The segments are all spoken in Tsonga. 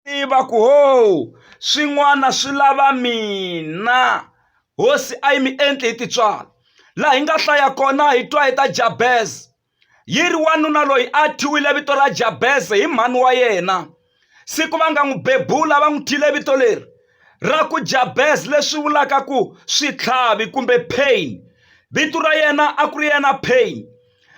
tiva ku ho swin'wana swi lava mina hosi a yi mi endli hi titswala laha hi nga hlaya kona hi twa hi ta jabeze yi ri wanuna loyi a thyiwile vito ra jabeze hi mhani wa yena siku va nga n'wi bebula va n'wi thyile vito leri ra ku jabeze leswi vulaka ku switlhavi kumbe pain vito ra yena a ku ri yena pain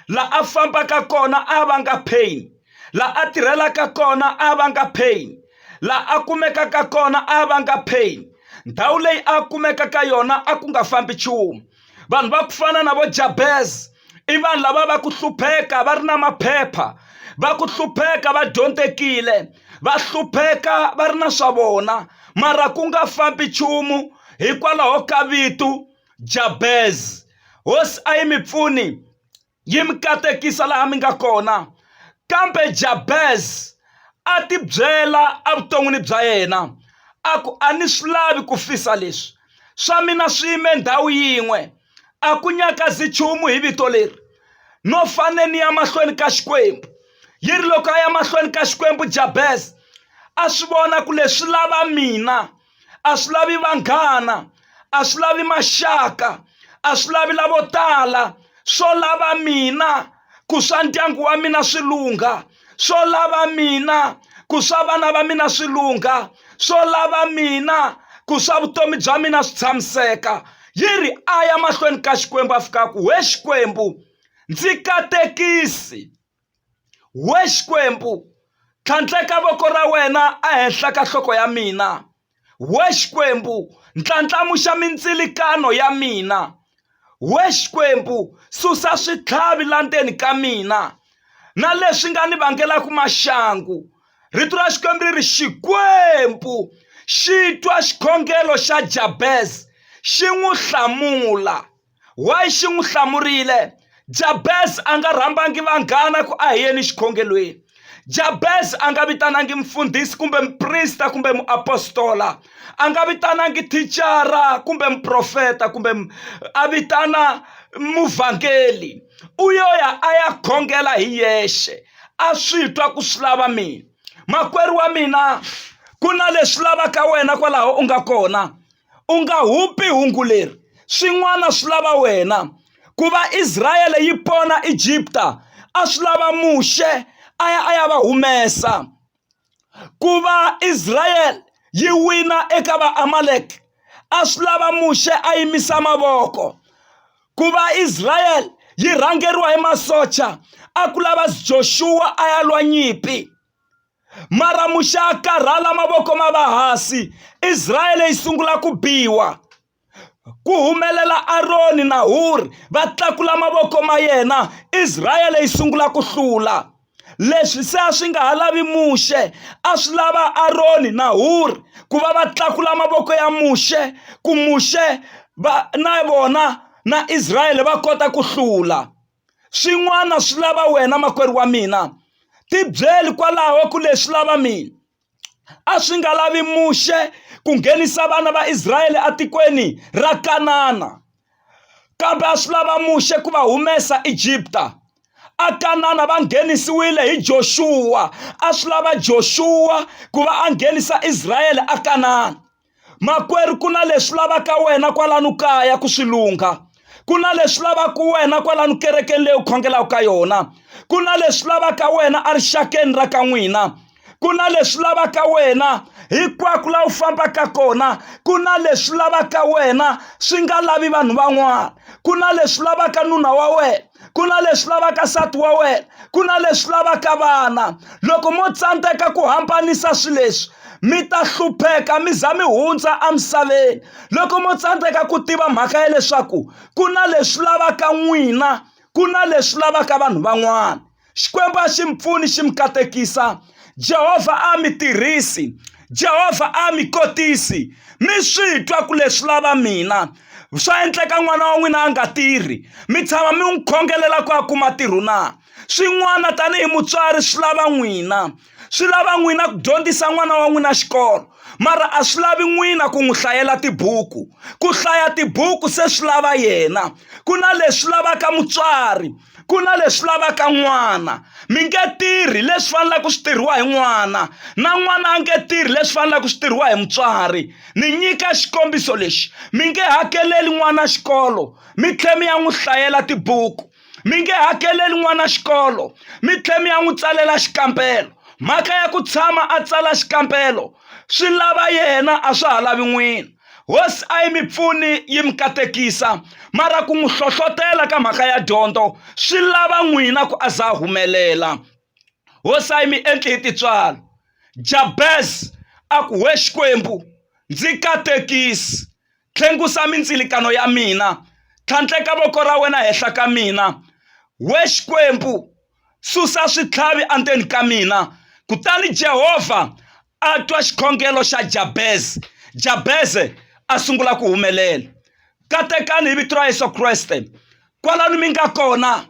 la a fambaka kona a va nga pain la a tirhelaka kona a va nga pain la a kumekaka kona a va nga pain ndhawu leyi a kumeka ka yona a ku nga fambi nchumu vanhu va ku fana na vo jabez i vanhu lava va ku hlupheka va ri na maphepha va ku hlupheka va dyondzekile va hlupheka va ri na swa vona mara ku nga fambi nchumu hikwalaho ka vito jabez hosi a yi mi pfuni yi mi katekisa laha mi nga kona kambe jabez a tibyela evuton'wini bya yena a ku a ni swi lavi ku fisa leswi swa mina swi yime ndhawu yin'we a ku nyakazi nchumu hi vito leri no fane ni ya mahlweni ka xikwembu yi ri loko a ya mahlweni ka xikwembu jabez a swi vona ku leswi lava mina a swi lavi vanghana a swi lavi maxaka a swi lavi lavo tala swo lava mina ku swa ndyangu wa mina swi lungha swo lava mina ku swa vana va mina swi lungha swo lava mina ku swa vutomi bya mina swi tshamiseka yi ri a ya mahlweni ka xikwembu a fika ku we xikwembu ndzi katekisi We Xikwembu, tlhandleka voko ra wena ehenhla ka nhloko ya mina. We Xikwembu, ndlandlamuxa mindzilikano ya mina. We Xikwembu, susa switlhavi la ndzeni ka mina na leswi nga ni vangelaka maxangu. Rito ra Xikwembu ri ri, Xikwembu xi twa xikhongelo xa Jabez, xi n'wi hlamula. Why xi n'wi hlamurile Jabez a nga rhambangi vanghana ku a hi yeni xikhongelweni Jabez a nga vitanangi mfundhisi kumbe muprista kumbe muapostola a nga vitanangi thicara kumbe muprofeta kumbe a vitana muvhangeli u yo ya a ya khongela hi yexe a swi twa ku swi lava mina makwerhu wa mina ku na leswi lavaka wena kwalaho u nga kona u nga hupi hungu leri swin'wana swi lava wena ku va Israyele yi pona Egipta a swi lava Muxe a ya a ya va humesa ku va Israyele yi wina eka vaamalek a swi lava Muxe a yimisa mavoko ku va Israyele yi rhangeriwa hi masocha a ku lava Joshua a ya lwa nyimpi mara muxa karhala mavoko ma va hasi israele yi sungula ku biwa ku humelela aroni na huri va tlakula mavoko ma yena israele yi sungula ku hlula leswi se a swi nga ha lavi muxe a swi lava aroni na huri ku va va tlakula mavoko ya muxe ku muxe va na vona na israele va kota ku hlula swin'wana swi lava wena makwerhu wa mina tibyeli kwalaho ku leswi lava mina a swi nga lavi muxe ku nghenisa vana va israyele etikweni ra kanana kambe a swi lava muxe ku va humesa egipta akanana va nghenisiwile hi joxuwa a swi lava joxuwa ku va a nghenisa israyele akanana makwerhu ku na leswi lavaka wena kwalano kaya ku swi lungha ku na leswi lavaka wena kwalano kerekeni leyi u khongelaka ka yona ku na leswi lavaka wena erixakeni ra ka n'wina ku na leswi lavaka wena hinkwako laha u fambaka kona ku na leswi lavaka wena swi nga lavi vanhu van'wana ku na leswi lavaka nuna wa wena ku na leswi lavaka nsati wa wena ku na leswi lavaka vana loko mo tsandzeka ku hambanisa swilo leswi mi ta hlupheka mi za mi hundza emisaveni loko mo tsandzeka ku tiva mhaka ya leswaku ku na leswi lavaka n'wina ku na leswi lavaka vanhu van'wana xikwembu a xi mi pfuni xi mi katekisa jehovha a mi tirhisi jehovha a mi kotisi mi swi twa ku leswi lava mina swa endleka n'wana wa n'wina a nga tirhi mi tshama mi n'wi khongelela ku a kuma tirhu na swin'wana tanihi mutswari swi lava n'wina swi lava n'wina ku dyondzisa n'wana wa n'wina xikolo mara a swi lavi n'wina ku n'wi hlayela tibuku ku hlaya tibuku se swi lava yena ku na leswi lavaka mutswari ku na leswi lavaka n'wana mi nge tirhi leswi faneleke ku swi tirhiwa hi n'wana na n'wana a nge tirhi leswi faneleke ku swi tirhiwa hi mutswari ni nyika xikombiso lexi mi nge hakeleli n'wana xikolo mi tlhe mi ya n'wi hlayela tibuku mi nge hakeleli n'wana xikolo mi tlhela mi ya n'wi tsalela xikambelo mhaka ya ku tshama a tsala xikambelo swi lava yena a swa ha lavi n'wina hosi a yi mi pfuni yi mi katekisa mara ku n'wi hlohlotela ka mhaka ya dyondzo swi lava n'wina ku a za humelela hosi a yi mi endli hi titswalo jabez a ku we xikwembu ndzi katekisi Tlhengusa mindzilikano ya mina, tlhandleka voko ra wena henhla ka mina. We Xikwembu, susa switlhavi endzeni ka mina. Kutani Jehovha a twa xikhongelo xa Jabeze. Jabeze a sungula ku humelela. Katekani hi vito ra Yesu Kreste, kwalano mi nga kona,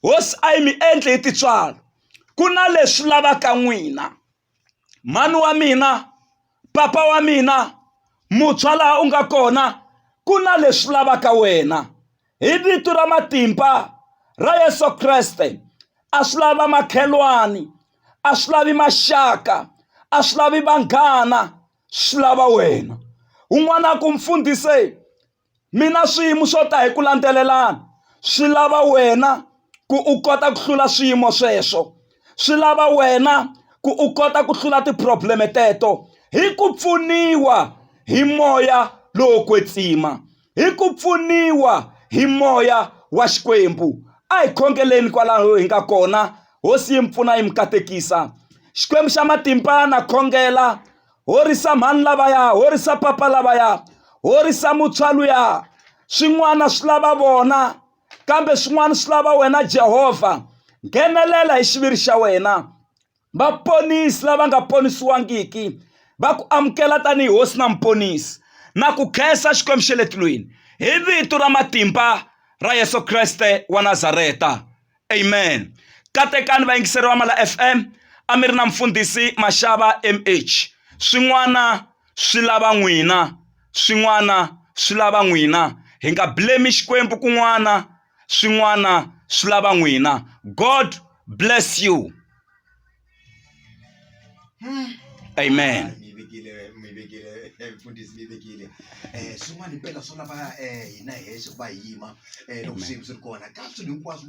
hosi a yi mi endli hi tintswalo. Ku na leswi lavaka n'wina. mhani wa mina papa wa mina muntshwa laha u nga kona ku na leswi lavaka wena hi vito ra matimba ra Yeso Kreste a swi lava makhelwani a swi lavi maxaka a swi lavi vanghana swi lava wena un'wana ku mfundhisi Mina swiyimo swo ta hi ku landzelelana swi lava wena ku u kota ku hlula swiyimo sweswo swi lava wena ku u kota ku hlula ti-problem teto hi ku pfuniwa hi moya lowo kwetsima hi ku pfuniwa hi moya wa xikwembu a hi khongeleni kwalaho hi nga kona hosi yi mi pfuna yi mi katekisa xikwembu xa matimba na khongela Horisa mhani lavaya, horisa papa lavaya, horisa muntshwa luya. Swin'wana swi lava vona, kambe swin'wana swi lava wena Jehovha. Nghenelela hi xiviri xa wena. Vaponisi lava nga ponisiwangiki va ku amukela tanihi hosi na muponisi na ku khensa Xikwembu xa le tilweni hi vito ra matimba ra Yesu Kreste wa Nazareta. amen katekani vayingiseri va mala fm a mi ri na mfundhisi maxava mh swin'wana swi lava n'wina swin'wana swi lava n'wina hi nga blame xikwembu kun'wana swin'wana swi lava n'wina god bless you amen mi vekile mi vekile eh, mfundhisi mi vekile um swin'wana impela swo lava um hina hexe ku va hi yima um loko swiyimo swi ri kona ka swilo hinkwaswo